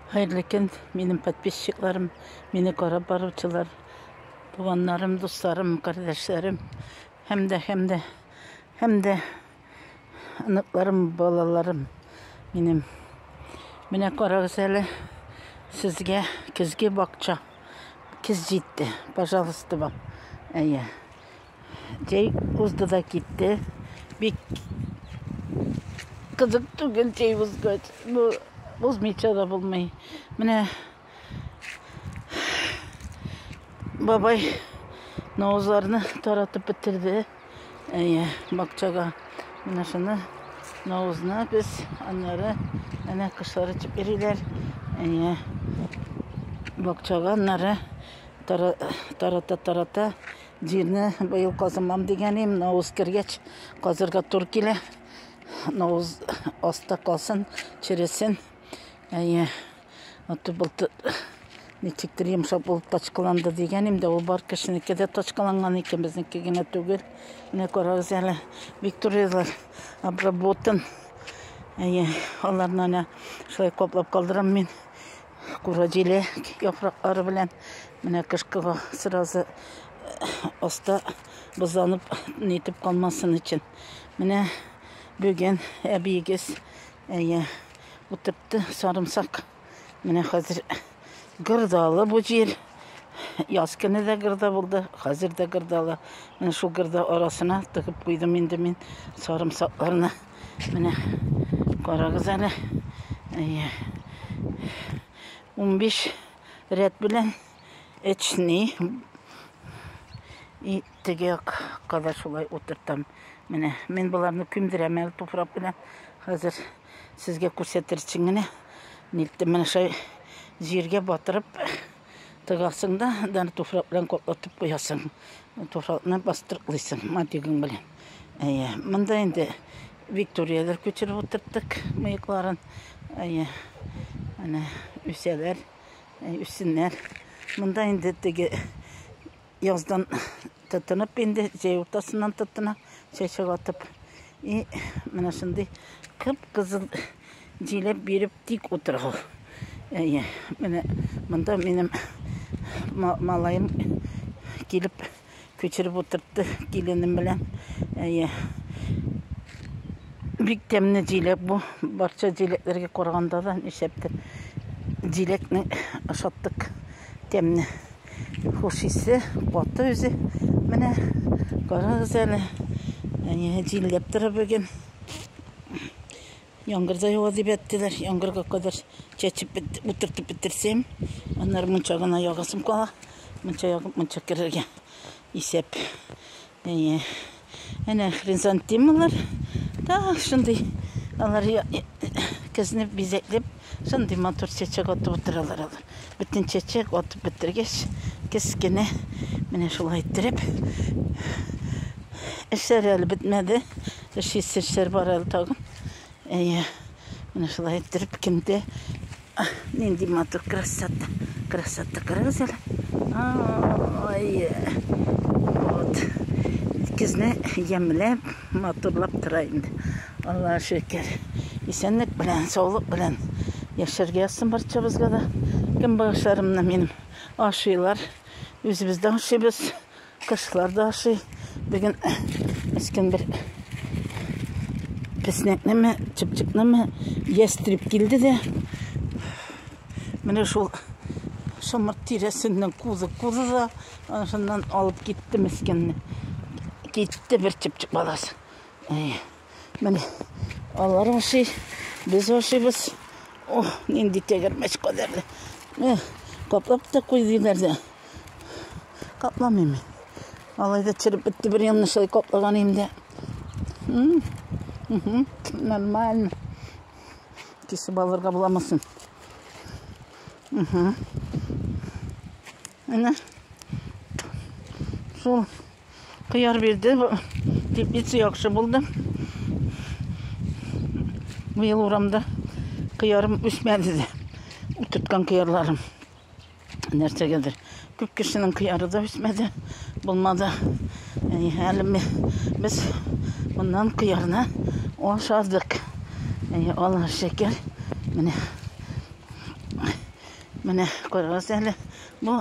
Хәерле көн, минем подписчикларым, мине карап баручылар, туганнарым, дусларым, кардәшләрем, һәм дә, һәм дә, һәм дә аныкларым, балаларым минем. Менә карагыз әле, сезгә көзге бакча, көз җитте, пожалуйста, вам. Әйе. Җәй узды да китте. Бик кызык түгел җәй узгач. Бу узмыйча да булмый. Менә бабай наузларны таратып бетерде. Әйе, бакчага. Менә шуны наузны без аннары әнә кышлар итеп йөриләр. Әйе. Бакчага аннары тарата-тарата Җирне быел казымам дигән идем, навыз кергәч казырга тур килә. Навыз аста калсын, чересен. Әйе. Аты булты ничектер йомшак булып тачкаланды дигән идем дә, ул бар кешенеке дә тачкаланган икән, безнеке генә түгел. Менә карагыз әле, Викторияләр обработан. Әйе, аларны әнә шулай каплап калдырам мин. Куродиле яфраклары белән менә кышкыга сразу оста бозланып нитеп калмасын өчен. Менә бүген әбиегез әйе утыртты сарымсак. Менә хәзер гырдалы бу җир. Яз көне дә гырда булды, хәзер дә гырдалы. Менә шул гырда арасына тыгып куйдым инде мин сарымсакларны. Менә карагыз әле. Әйе. 15 рәт белән эчни. И теге якка да шулай утыртам. Менә мин боларны күмдерәм әле туфрак белән. Хәзер сезгә күрсәтер өчен генә нилттем. Менә шулай җиргә батырып Тыгасың да, аны туфрак белән каплатып куясың. Туфракны бастырыклыйсың матигың белән. Әйе, монда инде Викторияләр күчереп утырттык мыекларын. Әйе, әнә үсәләр, үссеннәр. Монда инде теге Яздан тотынып инде, җәй уртасыннан тотына чәчәк атып. И, менә шундый кып-кызыл җиләк биреп тик утырган. Әйе, менә монда минем малаем килеп күчереп утыртты киленем белән. Әйе. Бик тәмле җиләк бу. Барча җиләкләргә караганда да нишәптер җиләкне ашаттык. Тәмле. Хуш исе, каты үзе. Менә карагыз әле. Әнә җилләп тора бүген. Яңгыр да ява дип әйттеләр. Яңгырга кадәр чәчеп утыртып бетерсәм, аннары мунча гына ягасым кала. Мунча ягып, мунча керергә исәп. Әйе. Әнә хризантемалар. Да, шундый алар көзне бизәкләп, шундый матур чәчәк атып утыралар алар. Бөтен чәчәк атып бетергәч, кескене менә шулай иттереп эшләре әле бетмәде. Эш эшләр бар әле тагын. Әйе. Менә шулай иттереп киндә Нинди матур красота. Красота карагыз әле. Ай. Вот. Кизне ямләп, матурлап тора инде. Аллаһ шөкер. Исәнлек белән, саулык белән яшәргә язсын барчабызга да. Кем багышларымны минем ашыйлар. Үзебездә ашыйбыз. Кошлар да ашый. Бүген мескен бер песнәкнеме, чыпчыкнымы, ястреб килде дә. Менә шул шымыр тирәсеннән кузы кузы да аншыннан алып китте мескенне. Китте бер чыпчык баласы. Әй, менә алар ашый, без ашыйбыз. Ох, нинди тәгәрмәч кадәрле. Каплап та куй диләр дә. Капламыйм мин. Алай да череп бетте бер янны шулай каплаган инде. Нормально. Кисеп алырга буламасын. Әнә. Шул кыяр бирде. Теплица яхшы булды. Быел урамда кыярым үсмәде дә. Утырткан кыярларым. нәрсәгәдер. Күп кешенең кыяры да үсмәде, булмады. Әни, әле без моннан кыярны ашадык. Әни, Аллаһ шөкер. Менә. Менә карагыз әле. Бу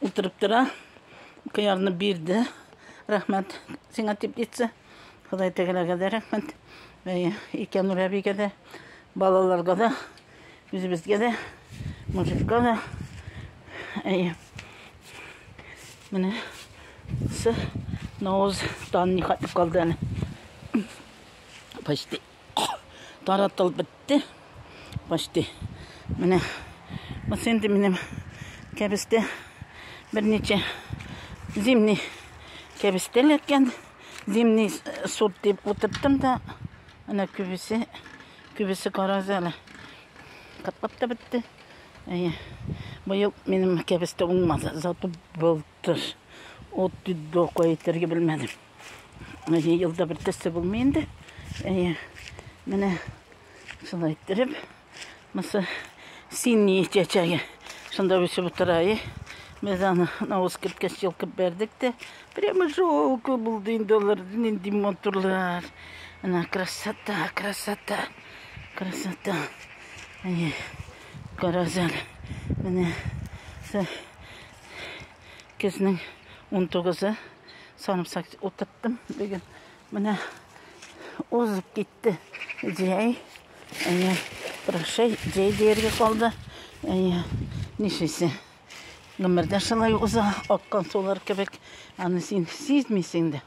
Утырып тора. Кыярны бирде. Рәхмәт сиңа дип әйтсә. Ходай тәгаләгә дә рәхмәт. Икән Рәбигә дә, балаларга да, үзебезгә дә, мужикка да. Әйе. Менә Науз тан ни хәтле калды әле. Почти Таратылып бетте. Почти. Менә. Бу сенде минем кәбестә. Берничә зимний кәбестә ләткән. Зимний э, суп дип утырттым да. Менә күбесе, күбесе карагыз әле. Катлап та бетте. Әйе. Быел минем кәбестә уңмады. Зато был Тос. Ут дип докой әйтергә белмәдем. Әйе, елда бер төсе булмый инде. Әйе. Менә шулай иттереп, мысы синий чәчәге. Шунда үсеп утыра, әйе. Без аны навоз керткәч йолкып бәрдек тә. Прямо жалко булды инде алар, нинди матурлар. Ана красота, красота, красота. Әйе. Карасәле. Менә. Көзнең 19-ы санап сак утырттым бүген. Менә узып китте җәй. Әйе, прощай, җәй дияргә калды. Әйе, нишлисең? Гомер дә шулай уза, аккан сулар кебек. Аны син сизмисең дә.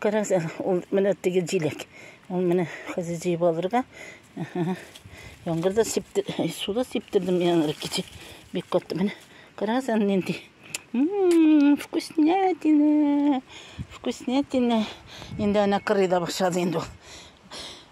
Карагыз, әнә, ул менә теге җиләк. Ул менә хәзер җыеп алырга. Яңгыр да сипте, суда сиптердем яңгыр кичә. Бик катты менә. Карагыз, әнә нинди. Вкуснятина. Вкуснятина. Инде әнә кырый да башлады инде ул.